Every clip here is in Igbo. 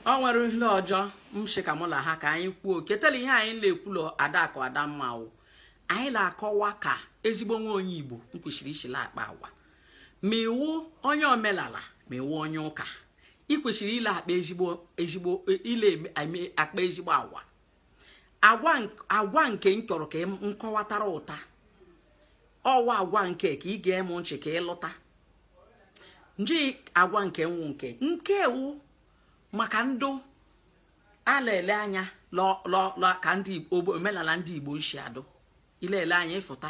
ọ nwere ihe ọjọ m shị ka mụ la ha ka anyị kwuo ketara ihe anyị na-ekwu la adakụ adamma wụ anyị na-akọwa ka ezigbo nwa onye igbo m kwesịrị ishi la-akpa agwa ma ị wụ onye omenala ma ị wụ onye ụka ị kwesịrị ịla-akpa ezigbo ezigbo ile eme- akpa ezigbo agwa agwa nke m chọrọ ka m kọwatara taa ọ wụ agwa nke ka ị ga-eme nchị ka ị lụta nji agwa nke nwụ nke nke wụ maka ndụ a la-ele anya ka ndị omenala ndị igbo nshi adụ ị la-ele anya ị fụta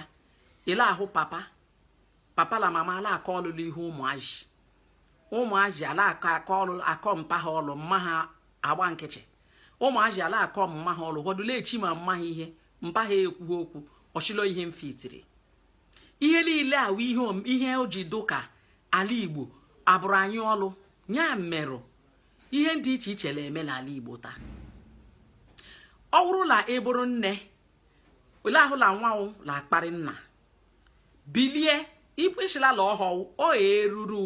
ị la-ahụ papa papa la mama a la-akọ ọlụ l'ihu ụmụazị ụmụazị a la-akọ akọ ọlụ akọ mpa ha ọlụ mma ha agba nkịtị ụmụazị a la-akọ mma ha ọlụ họdụ la-echi ma mma ha ihe mpa ha ekwughị okwu ọ shị la ihe mfitiri ihe niile a wụ ihe om- ihe o ji dụ ka ala igbo abụrụ anyị ọlụ ya merụ ihe dị iche iche na-eme n'ala igbo taa ọ bụrụ na ị bụrụ nne ị la-ahụ la nwa wụ na-akparị nna bilie ikwesịlala ọhọwụ ọ eruru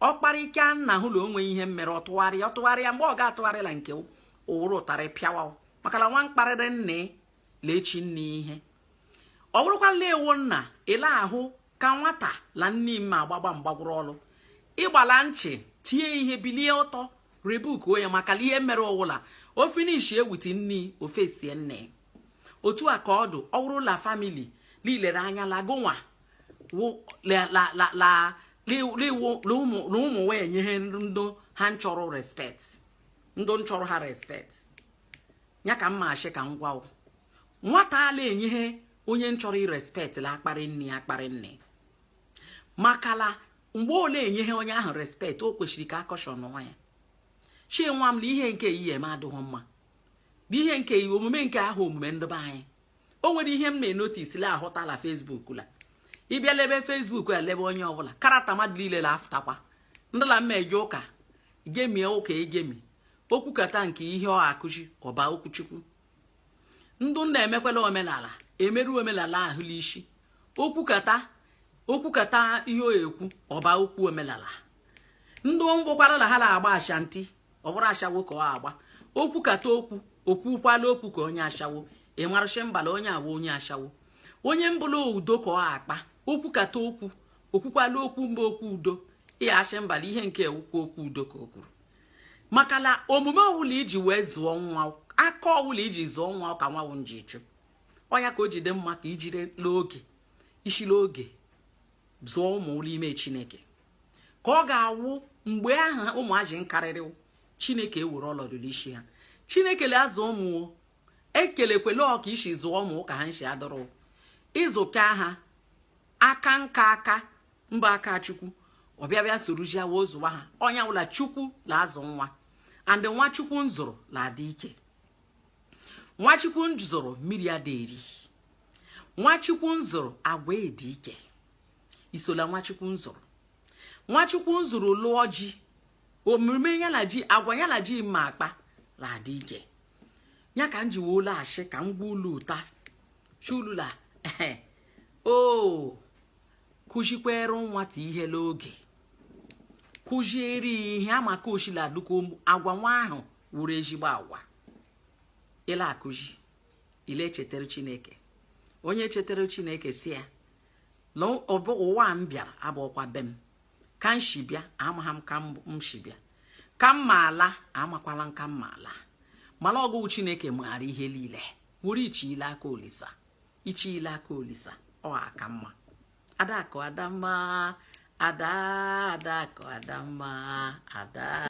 ọ kparịka nna hụ na o nwe ihe mere ọ tụgharịa ọ tụgharịa mgbe ọ ga-atụgharị la nke ụwụrụ ụtarị pịawa maka na nwa kparịrị nna la-echi nne ihe ọ bụrụkwa la ị wụ nna ị la-ahụ ka nwata na nne m agbagba mgbagwụrụ ọlụ ị gbala nchị tie ihe bilie ọtọ rebuke ya maka ihe mere ọ wụ la o finishie with nne o fesie nna otu a ka ọ dụ ọ wụrụ la family i lere anya lagonwa ụmụ wụ enyehe ndị ha nchọrọ respect ndị nchọrọ ha respect ya ka m ma ashị ka m gwa nwata a la-enyehe onye nchọrọ respect la-akparị nne ya akparị nne maka la mgbe ọ la-enyehe onye ahụ respect o kwesịrị ka a caution ya shị nwa m na ihe nke ihe eme adịghị mma n'ihe nke ihe omume nke ahụ omume ndụ be anyị o nwere ihe m na-enotis la-ahụta la facebook la ị bịa lebe facebook ya lebe onye ọbụla karata mmadụ niile la afụtakwa ndị la mma eje ụka gemie ụka egemi o kwukata nke ihe ọ akụzi ọ baa okwu chukwu ndụ na-emekwala omenala emerụ omenala ahụ n'isi o kwukata o kwukata ihe ọ ekwu ọ baa okwu omenala ndị ngwụkwara na ha na-agba ashanti ọ bụrụ ashawo ka ọ agba o kwukata okwu o kwukwala okwu ka onye ashawo ị marụ shị mba la onye a wụ onye ashawo onye mbụ la udo ka ọ akpa o kwukata okwu o kwukwala okwu ọ baa okwu udo ị ya-ashị mba la ihe nke a wụkwa okwu udo ka o kwuru maka na omume ọwụla i ji wee zụọ nwa aka ọwụla i ji zụọ nwa ka nwa ahụ nji chụ ọnya ka o jide mma ka i jiri oge ishi l'oge zụọ ụmụ l'ime chineke ka ọ ga-awụ mgbe ahụ ụmụazị nkarịrị chineke ewere ọlọdụ l'ishi ha chineke la azụ ụmụ ekelekwele ọ ka i shi zụọ ụmụ ka ha nshi adụrụ ị zụka ha aka nka aka mba aka chukwu ọ bịa bịa soruzie wa ọ zụwa ha ọ nya wụ la chukwu la azụ nwa and nwa chukwu nzụrụ la adị ike nwa chukwu nzụrụ mmiri ada eri nwa chukwu nzụrụ agwa adị ike isola nwa chukwu nzụrụ nwa chukwu nzụrụ lụọ ji omume ya na ji agwa ya na ji ma akpa la adị ike ya ka m ji wee la ashị ka m gwa ulu taa shị ulu la ehen o kụzikwere nwata ihe l'oge kụziere ya ihe amaka o shi la duka agwa nwa ahụ wụrụ ezigbo agwa i la akụzi i la echetara chineke onye chetara chineke sị ya na ụwa m bịara abụọkwa be m ka m shi bịa amaghị m ka m shi bịa ka m ma ala amakwala m ka m ma ala mana ọ gụ chineke maara ihe niile nwere iche ile aka olisa iche ile aka olisa ọ aka mma adakụ adamma ada adakụ adamma ada